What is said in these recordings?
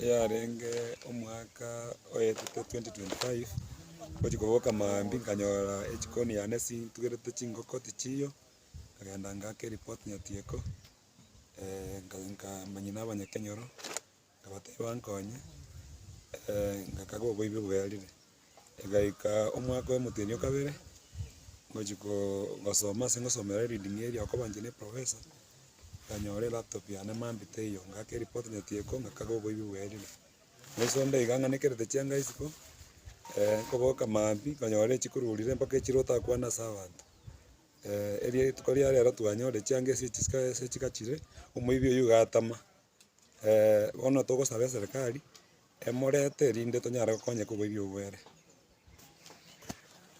eyarenge omwaka oetete 2025, ngochia koboka maambia nkanyora echikoni yane sintugerete chingoko tichiiyo, nkagenda ngaaka ereport nyatieko, nka- nka- manyia naba nyakenyoro. Nkabateba nkonye, ngakagwa oboibi bwerire. Egaika omwaka oyomotenyi okabere, ngochia kogosoma ase ngosomera ereading eria okoba inche ne professor, nkanyora elaptop yane mambia teiyo, ngaaka ereport nyetieko, ngakagwa oboibi bwerire. Naisomba iga ng'anekerete chianga isiko, nkoboka mambia nkanyora echikururire mpaka echire otakwana ase abanto. erio rituko ria rero twanyora echianga echi ase chigachire, omoibi oyio gatama. bono togosaba eserikari, emorete rinde tonyare gokonyeka oboibi obwo bwere.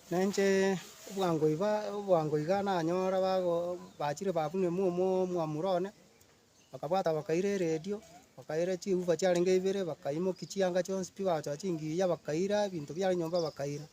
Na inche obwango iga obwango iga nanyore bago bachire babunwa emomu omwamura one, bakabwata bakaira eredio, bakaira chiufa chiarenge ibere, bakaimokia chianga chionsi pi bagochia chingiya bakaira, ebinto biarenge nyomba bakaira.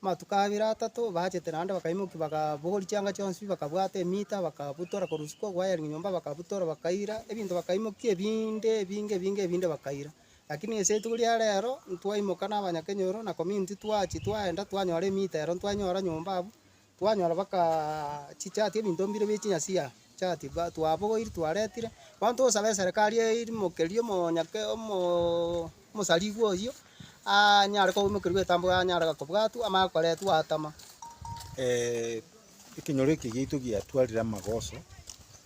Amatuko abere atato bachete naende bakaimokia, bakabogori chianga chionsi, bakabwata emiita, bakabutora korwa isiko koyaria nyomba, bakabutora bakaira, ebinto bakaimokia ebinde ebinge ebinge ebinde bakaira. Lakini ase rituko ria rero, ntwaimoka na abanyakenyoro na komia intwe twachia twaenda twanyora emiita ero ntwanyora nyomba abwo, Twanyora bakachichatia ebinto mbire bie chinyasia chati ba twabogoiri twaretire, bono tosabe eserekari eirimokerie omonyake omoo omosarigwa oyio aanyare koimokerigwa etambe anyare gakobwatwa amanye gokoretwa atama. ekenyoro eke giaito giatwarire amagoso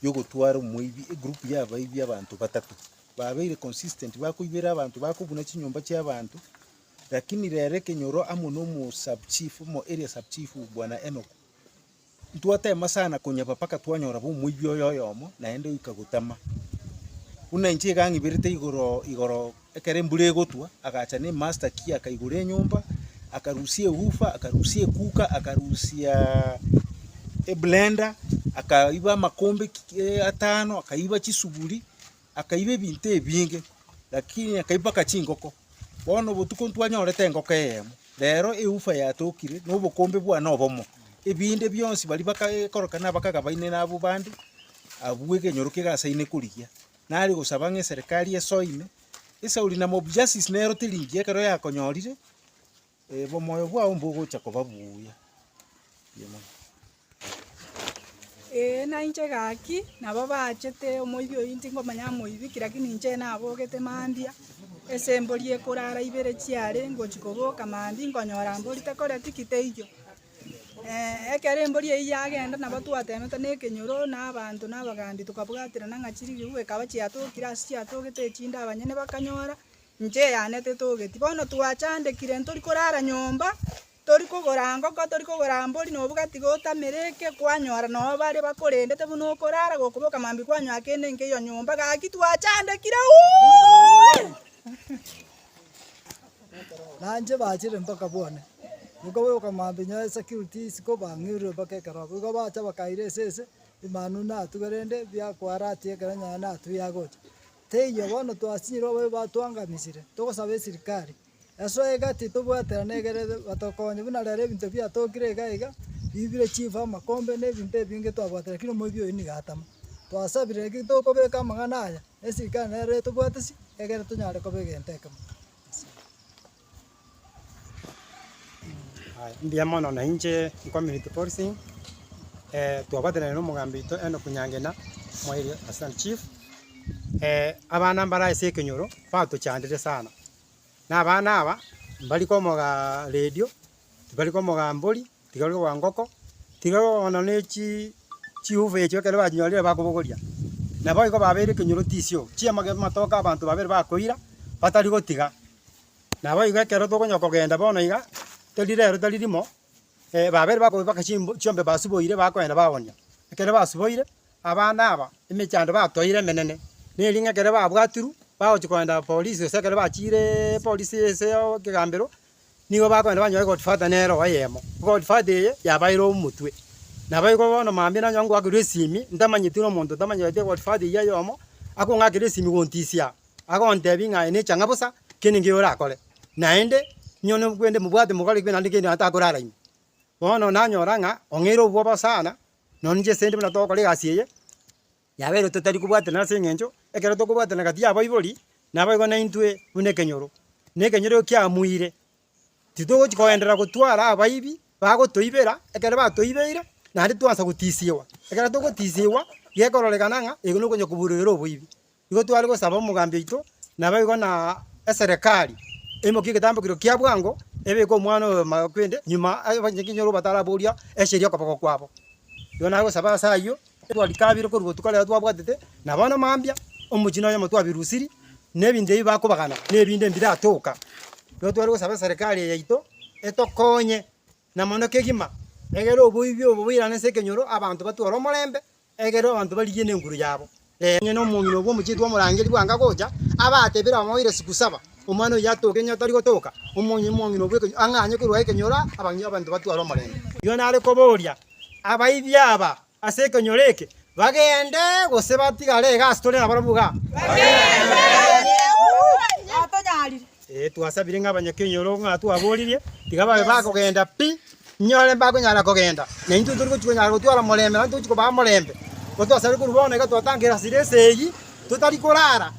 ya ogotwara omoibi egroup ya abaibi abanto batato, babeire consistent bakoibera abanto bakobuna chinyomba chia abanto, Lakini rere kenyoro amo nomosabchifu mo eria sabchifu, Bwana Enoku, ntwatema sana konyeba mpaka twanyora bomoibi oye oyomo, naende oika gotama. Buna inche iga ng'iberete igoro igoro ekero embura egotwa, agacha nemasta ki akaigora enyomba, akarusia ehufa, akarusia ekuka, akarusia eblender, akaiba amakombe ki- atano, akaiba chisuguri, Akaiba ebinto ebinge, lakini akaiba mpaka chingoko. Bono obotuko ntwanyorete engoko eyemo, rero eufa yatokire, na obokombe bwane obomo. Ebinde bionsi baria bakaekorokana abakaga baine na abwo bande, abwo egenyoro kegasaine korigia. Nare gosaba ng'a eserekari esoe ime, esauri na mob justice nerote ringi ekero yakonyorire. Omoyo bwao mbogocha koba buya. Ee, nainche gaki, nabo baachete omoibi oyio ntingomanya amoibi ki, lakini inche nabogete mambia, ase embori ekorara ibere chiare ngochia koboka mambia nkonyora mbori tekore tiki teiyo. Ee, ekero embori eyio yagenda nabo twateemete na ekenyoro na abanto na abagambi tokabwaterana ng'a chirigigu ekaba chiatokire ase chiatogete echinde abanyene bakanyora Inche yane tetogeti. Bono twachandekire ntori korara nyomba, tori kogora ngoko, tori kogora mbori, na obogati gotamera eke, kwanyora noo baria bakorendete buna okorara, gokoboka mambia kwanyoa kende nkeiyo nyomba, gaki twachandekire uuuee. Na inche bachire mpaka bwane, gokaboka mambia nyoe security isiko bang'irure mpaka ekero abwo. Igo bacha bakaira esese, Emanu natube rende, biakoaratia ekero nyaye natube yagocha. Teiyo bono twasinyire ababe batuangamisire, togosaba esirikari. Esoa iga titobwaterana egere batokonye buna rero ebinto biatokire iga iga, bibire chifu amakombe na ebinto ebinge twabwate lakini omoibi oyo nigo atama. Twasabire naki tokobeka amang'ana aya, esirikari nero etobwatisi egere tonyare koba egento ekemo. Mbuya mono nainche Community Policing, twagotenena n'omogambi oito Enock Nyangena, omoerio oito Assistant Chief, abana mbare ase ekenyoro batochandire sana, na abana aba, mbari komogaa radio, tibari komogaa mbori. Tiga ore koba ngoko, tiga ore kogonwa ne chi chiuva echio ekero bachinyorire bakobogoria. Na boigo babeire ekenyoro tisio, chiamage amatoke abanto babere bakoira, batari gotiga. Naboigo ekero tokonywa kogenda bono iga, teri rero tari rimo, babere bakoba mpaka chimb chiombe basuboire bakoenda bagonia. Ekero basuboire, abana aba, emechando batoire emenene, na ering'o ekero babwatirwe, bagochi koenda polisi gose ekero bachiireeee polisi ase oo ekegambero. nigo bakogenda banyore gold father nere oyemo. Gold father eye yabaire omotwe. Nabo igo bono mambia nanyora ngoakerwa esimi, ntamanyeti buna omonto ntamanyeti gold father oyio oyomo, akong'akera esimi gontisia, agontebia ng'a aye necha ng'a bosa kende ngeyo orakore, naende nyone okwende mobwate mogore ekibe naende kende atakorara ime. Bono nanyora ng'a ong'eire obwoba sana, nonya inche sendi buna togokora egasi eye. Yabeire totari kobwatana ase engencho ekero tokobwatana gati y'abaibori naboigo naintwe buna ekenyoro, na ekenyoro kiamuire. Titogochi koenderera gotwara abaibi bagotoibera ekero batoibeire, naende titoansa gotisigwa. Ekero togotisigwa, gekororekana ng'a ego nokonya kobureire oboibi. Igo tware gosaba omogambi oito naboigo na eserekari emokie egetambe keria kia bwango ebeke omwana oyo makwende nyuma abanchete ekenyoro bataraboria esiri okoboko kwabo. Igo nagosaba ase ayio. Twarikabiire korwa botuko rero twabwatete, na bono mambia omochie noyomo twabirusirie, na ebinto ebi bakobagana nebinde mbiratoka. Ekero tware gosaba eserekari eye yaito etokonye na mono kegima, egere oboibi obo boirane ase ekenyoro, abanto batware omorembe, egere abanto barigie ne enguru yabo. Onye nomong'ina obwo omochie twamorangeria bwango agocha, abatebire bamoire siku saba, omwana oyio atoke, onye tari gotoka, omong'ina obwo eke ang'anye korwa ekenyoro abanto batware omorembe. Igo nare koboria, Abaibia aba ase ekenyoro eke bagende, gose batigare iga ase tore nabarabwo iga? Bagende. Ee, twasabire ng'a abanyakenyoro ng'a twaboririe, tiga babe bakogenda pi, inyore mbakonyara kogenda, na intwe tori gochia konyara gotwara morembe, naintwe tochi kobaa morembe. Nabo twasabire korwa bono iga twatangera sira ase eyio, totari korara,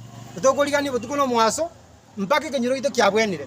tokorigania botuko na omoaso, Mpaka ekenyiroito kiabwenire.